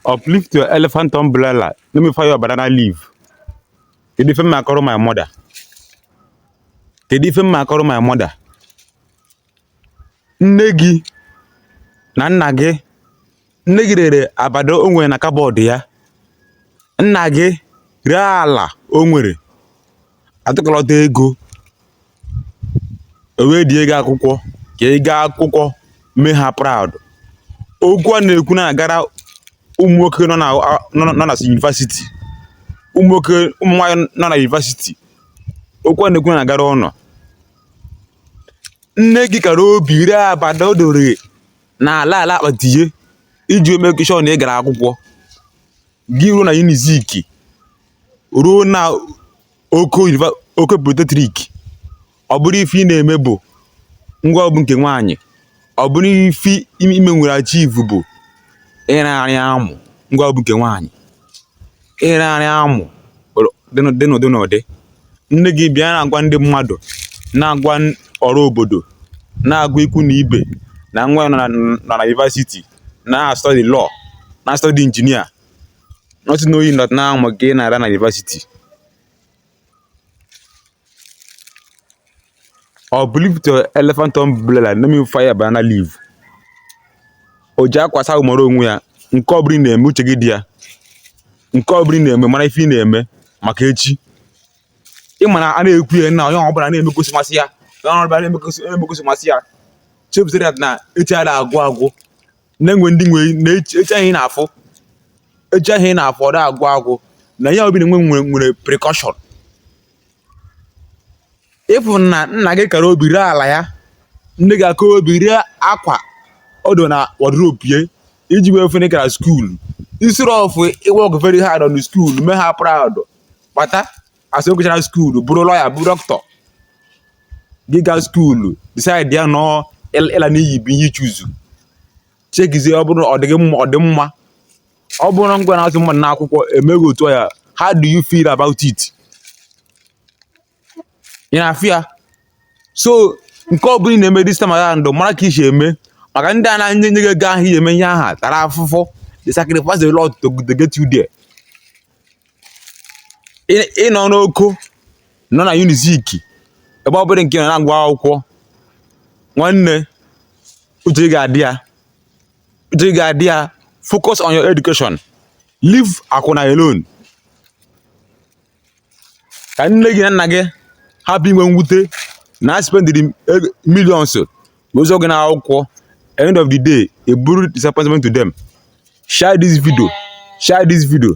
uplift your elephant umbrella let me fire your banana leaf kedu ife mma akọrọ my mother kedu ife mma akọrọ my mother nne gị na nna gị nne gị rere abada o nwere na kabọọdụ ya nna gị ree ala o nwere a tụkọlọta ego e wee die gị akwụkwọ ka ị gaa akwụkwọ mee ha proud okwu a na-ekwu na-agara ụmụ nwoke nọ na nọ na- nọ na yunivasiti ụmụ nwoke ụmụ nwaanyị nọ na yunivasiti okwu a na-ekwu na-agara ụnụ nne gị kara obi ire abada o doro na ala ala akpati ya iji make sure na ị gara akwụkwọ gị ruo na unizik ruo na oko univa- oko polytechnic ọ bụrụ ife ị na-eme bụ ngịwa bụ nke nwaanyị ọ bụrụ ife ime nwere achivu bụ ịrarị amụ ngịwa bụ nke nwaanyị ịrarị amụ dị n'ụdị n'ụdị nne gị bịa na-agwa ndị mmadụ na-agwa ọra obodo na-agwa ikwu na ibe na nwa ya nọ na yunivasiti na-astọdi lọ na-astọdi injinia not knowing that na amụ ka ị na-ara na yunivasiti or believe the elephant umbrella let me fire banana leaf o ji akwa asa ahụ mara onwe ya nke ọ bụla ị na-eme uche gị dị ya nke ọ bụla ị na-eme mara ife ị na-eme maka echi ị ma na a na-ekwu ya na onye ọ bụla na-eme ka o si masị ya onye ọ bụla na-eme ka o si masị ya chebuzere ya na echi ada agwụ agwụ na-enwe ndị nwe na echi a ị na-afụ echi a ị na-afụ ọ da agwụ agwụ na ihe ọ bụla ị na-eme nwere repercussion ịfụ na nna gị kara obi ree ala ya nne gị aka obi ree akwa o doro na wọdrobu ya iji wee fụ na ị gara skuulu instead of ị work very hard on skuulu mee ha proud kpata a sị ọ gụchara skuulu bụrụ lọya bụ dọkịta gị gaa skuulu disaidi na ọ ịla n'iyi bụ ihe ị chuzu chekizie ọ bụrụ ọ dịghị mma ọ dị mma ọ bụrụ ngịwa na-azụ mmadụ n'akwụkwọ e mee gị otu a how do you feel about it ị na-afụ ya so nke ọ bụla ị na-eme this time around mara ka i si eme maka ndị a na-enye nye gị ego ahụ i ji eme ihe a ha tara afụfụ they sacrifice a lot to get you there ị nọ n'oko nọ na unizik ebe ọ bụla nke ị nọ na-agụ akwụkwọ nwanne uche ga-adị ya uche ga-adị ya focus on your education leave akwụna alone ka nne gị na nna gị hapụ inwe mwute na ha spendiri millions wee zụọ gị n'akwụkwọ end of the day ị bụrụ disappointment to them share this video share this video